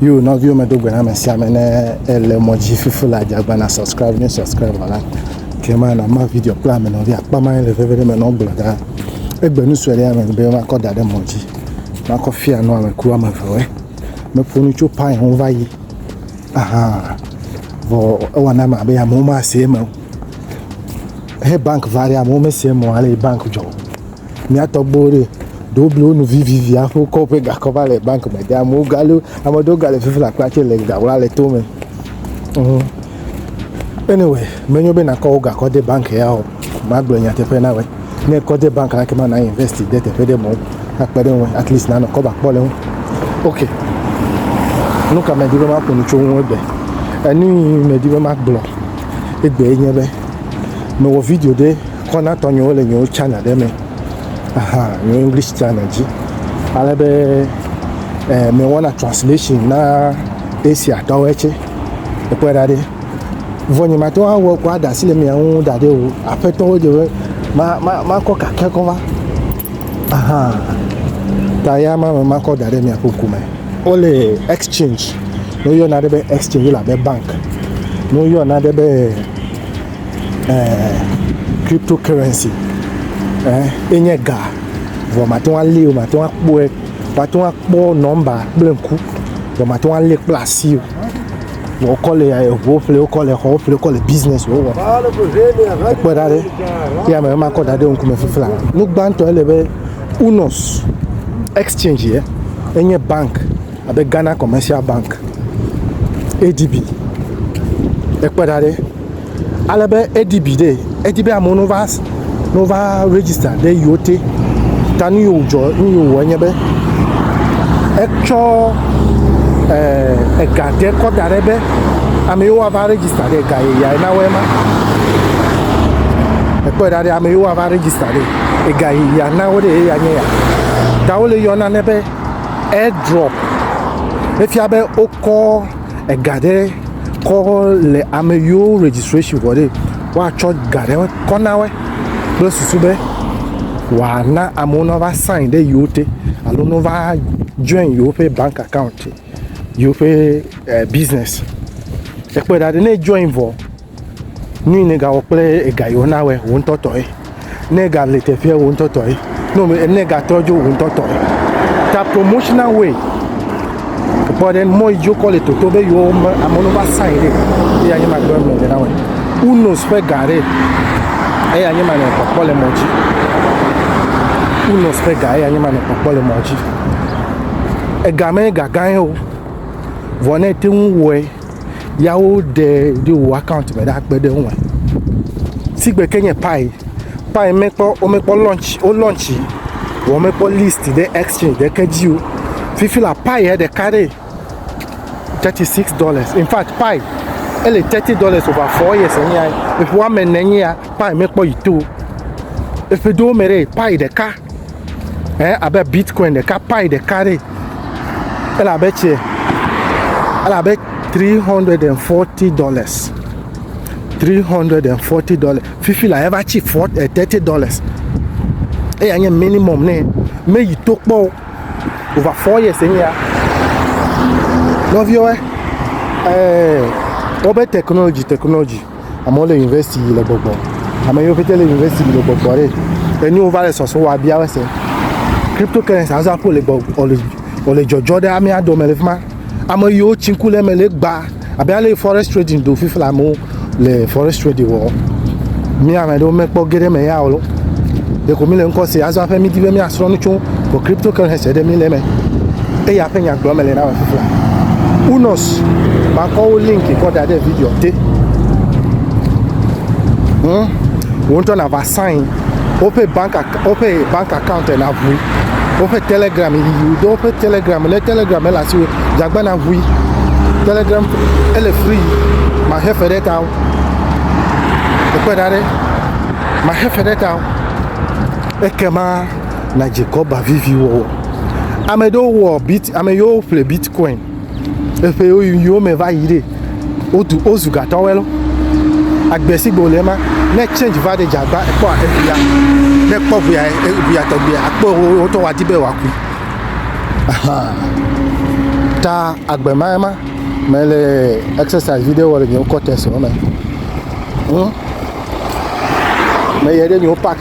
Yo nɔviwo me do gbe na ame sia ame ne ele mɔ dzi fufu le adzagba na subscribe ne subscribe wɔ la ke ma na ma video kple ame nɔvi akpa ma le veve ɖe me nɔ gblɔ da egbe nu sue ɖe ame be makɔ da ɖe mɔ dzi makɔ fia nɔ ame kura me vewɛ meƒo nu tso pai ho va yi aha vɔ ewa na ma be amewo ma se eme he bank va ɖe amewo me se eme ale bank dzɔ Mía tɔgbuiwo ɖe, ɖewo blu wo nu vivivi hafi wokɔ woƒe gakɔ va le banki me dem. Amewo ga lé, ame aɖewo ga le fifi le akpa tsɛ le ga wla le to me. Ŋ. Anyway, menyo be nàkɔ wò gakɔ de banki ya o. Magblɔ nyateƒe na wòe. Ne èkɔ de banki la, ekema na investi de teƒe ɖe mɔ akpe ɖe eŋu at least nanɔ kɔba kpɔ le eŋu. Ok. Nu ka medi be maƒo nu tso eŋu egbe? Enu yi medi be magblɔ egbee nye be mewɔ video ɖe Kɔ na tɔ nyewo le nyewo channel ɖe me. Aha, nyewo English channel dzi. Ale be eh, me wɔna translation na Asia tɔwɔe tse. Ekpɔe ɖa ɖe. Vɔ nye ma tɔwa wɔ kɔ ada si le mia ŋu da ɖe o. Aƒe tɔwo dze be ma ma ma kɔ kake kɔ va. Aha. Ta ya ma me ma kɔ da ɖe mia ƒe ŋku me. Ole exchange. No yɔ na ɖe be exchange la be bank. No yɔ na ɖe be eh, cryptocurrency eh, enye ga vɔ mate ŋu alé o mate ŋu akpɔe mate ŋu akpɔ nɔmba kple ŋku vɔ mate ŋu alé kple asi o vɔ wokɔ le eŋuwo ƒle wokɔ le xɔwo ƒle wokɔ le business wo wɔm ekpɔ ɖa ɖe eya me ema kɔ da ɖe ŋkume fifla nu gbãtɔ ele be unos exchange ye enye bank abe ghana commercial bank adb ekpɔ ɖa ɖe ale be edi bi ɖe edi be amewo nova nova register ɖe yewo te ta nu yewo dzɔ nu yewo wɔ nye be etsɔ eh, ega ɖe kɔ da ɖe be ame yewo ava register ɖe ega yeye na wɔe ma ekpɔe ɖa ɖe ame yewo ava register ɖe ega yeye na wo ɖe eya nye ya ta wole yɔ nane be airdrop efia be wokɔ ega ɖe kɔ le ame yiwo registration vɔ ɖe woatsɔ ga ɖe kɔ na woe kple susu be wòana amewo nava sign ɖe yewo te alo nova join yewoƒe bank account yewoƒe eh, business ekpe ɖa ɖe ne join vɔ nu yi nègawɔ kple ega yi wona wɔ wò ŋutɔ tɔe. Ne ega le teƒea wò ŋutɔ tɔe. No me ne ega trɔ dzo wò ŋutɔ tɔe. Ta promotional way. Kpɔ ɖe mɔ yi dzi wokɔ le toto be yewo me ame ɖewo va sign ɖi. Eya nye ma gblɔ me le na wɔ. Unos ƒe ga ɖe. Eya nye ma le kpɔkpɔ le mɔ dzi. Unos ƒe ga eya nye ma le kpɔkpɔ le mɔ dzi. Ega me ega gã ye o. Vɔ ne te ŋu wɔe ya woɖe ɖo wò account me ɖa kpe ɖe eŋu me. Sigbe ke nye Pi, Pi mekpɔ womekpɔ launch wo launch yi vɔ womekpɔ list ɖe exchange ɖeke dzi o. Fifi la Pi ya ɖeka ɖe thirty six dollars in fact Pi ele thirty dollars over four years enye ya eƒe woame ene enye ya Pi mekpɔ yi to o. Eƒe dowo me ɖe Pi ɖeka. eh abe bitcoin ɖeka pi ɖeka ɖe ele abe tse ele abe 340 dollars 340 dollars fifi la eva tsi 30 eh, dollars eya nye minimum ne meyi to kpɔ over four years enye ya nɔviwo eh, eh wɔbe technology technology Amewo le yunivɛsiti yi le gbɔgbɔ. Ame yiwo pɛtɛ le yunivɛsiti yi le gbɔgbɔ ɖe. Enu wova le sɔsrɔ̃ wa bia wo se. Kripto currency azɔ aƒo le gbɔ wòle wòle dzɔdzɔ ɖe amea dome le fi ma. Ame yiwo tsi ŋku le eme le egbea abe ale forex trading do fifi le amewo le forex trading wɔm. Mi ame aɖewo mekpɔ ge ɖe eme ya o. Ɖeko mi le ŋkɔ se azɔ aƒe midi be miasrɔ̃ nu tso kripto currency ɖe mi le eme. Eya ƒe nya gblɔm mele na wò fifia. Unos, makɔ wo link kɔ da ɖe video te. Hmm? Wo ŋutɔ nava sign woƒe bank woƒe bank account na ʋui. Woƒe telegram yi do woƒe telegram ne telegram le asi wo dzagba na ʋui. Telegram ele free. Maxe fe ɖe ta wo. Ekpe da ɖe. Maxe fe ɖe ta wo. Ekema na dzikɔba vivi wɔwɔ. Ame ɖewo wɔ bit ame yiwo ƒle bitcoin eƒe yiwo me va yi ɖe wotu wozu gatɔwɔe lɔ. Agbe si gbe wòle ma ne change va ɖe dzi agba ekpɔ eŋuya ne ekpɔ ŋuya eŋuya tɔgbia akpɔ wo ŋutɔ wòadi be wòaku. Ahan ta agbe ma ema mele exercise ɖe wɔ le nye kɔtɛs me. Hm meyɛ ɖe nye park.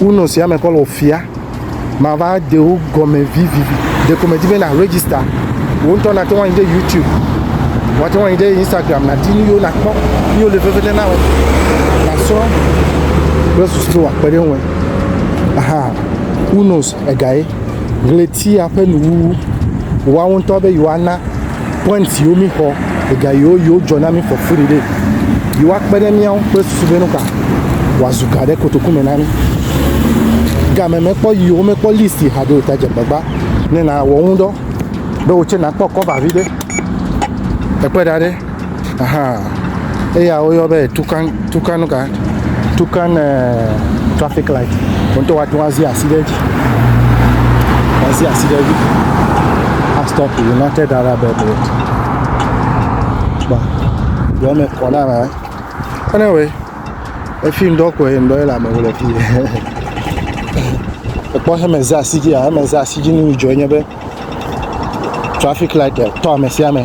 Uno sia me kɔ le ofia mava de wo gɔme vivivi ɖeko medi be na register wo ŋutɔ nate ŋu anyi ɖe youtube wate ŋu anyi ɖe instagram nadi nu yiwo nakpɔ yi wole veve ne nawe nasrɔ kple susu be wòakpe ɖe ŋue aha who knows egae ɣletia ƒe nuwuwu woawo ŋutɔ be yewoana Point yiwo mi xɔ, ega yiwo yiwo dzɔ na mi xɔ furi ɖe, yiwo akpe ɖe miawo kple susu be nuka wòazu ga ɖe kotoku me na mi. Game mekpɔ yiwo mekpɔ list yi haɖe o ta dze gbagba ne nawɔ ŋudɔ be wò tse nakpɔ kɔva vi ɖe. Ekpe ɖa ɖe. aha eya woyɔ be tukan tukan nuka tukan ɛɛ trafik lait wo ŋutɔ woate ŋu azi asi ɖe edzi azi asi ɖe edzi astɔpi United Arab Emirates kpɔ yɔ me kɔ na la kpɔnɛ wɛ efi ŋdɔ kɔe ŋdɔ ye le amewo le fi ekpɔ heme za asi dzia heme za asi dzi nu yi dzɔ nye be. trafik light tɔ ame sia ame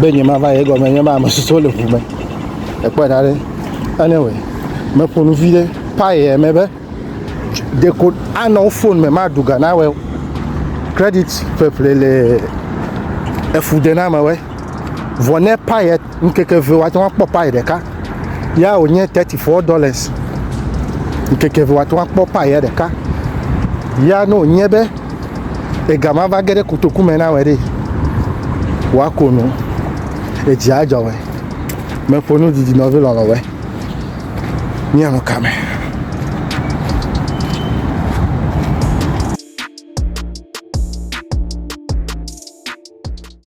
be nye ma va ye gɔme nye ma ame susuwo le ʋu me ekpɔ da ɖe anyway me ƒo nu vi ɖe paye me be de ko anɔ wo phone me ma du ga na wɛ credit ƒeƒle le efu de na me wɛ vɔ ne paye Ŋkeke eve wòate ŋu akpɔ payi ɖeka. Ya wònye thirty four dollars. Ŋkeke eve wòate ŋu akpɔ payi ya ɖeka. Ya ne wònye be ega ma va ge ɖe kotoku me na wɔ ɖe, wòako nu. Edzi adzɔ wɔ. Meƒo nu didi nɔvi lɔlɔ wɔ. Míanɔ ka me?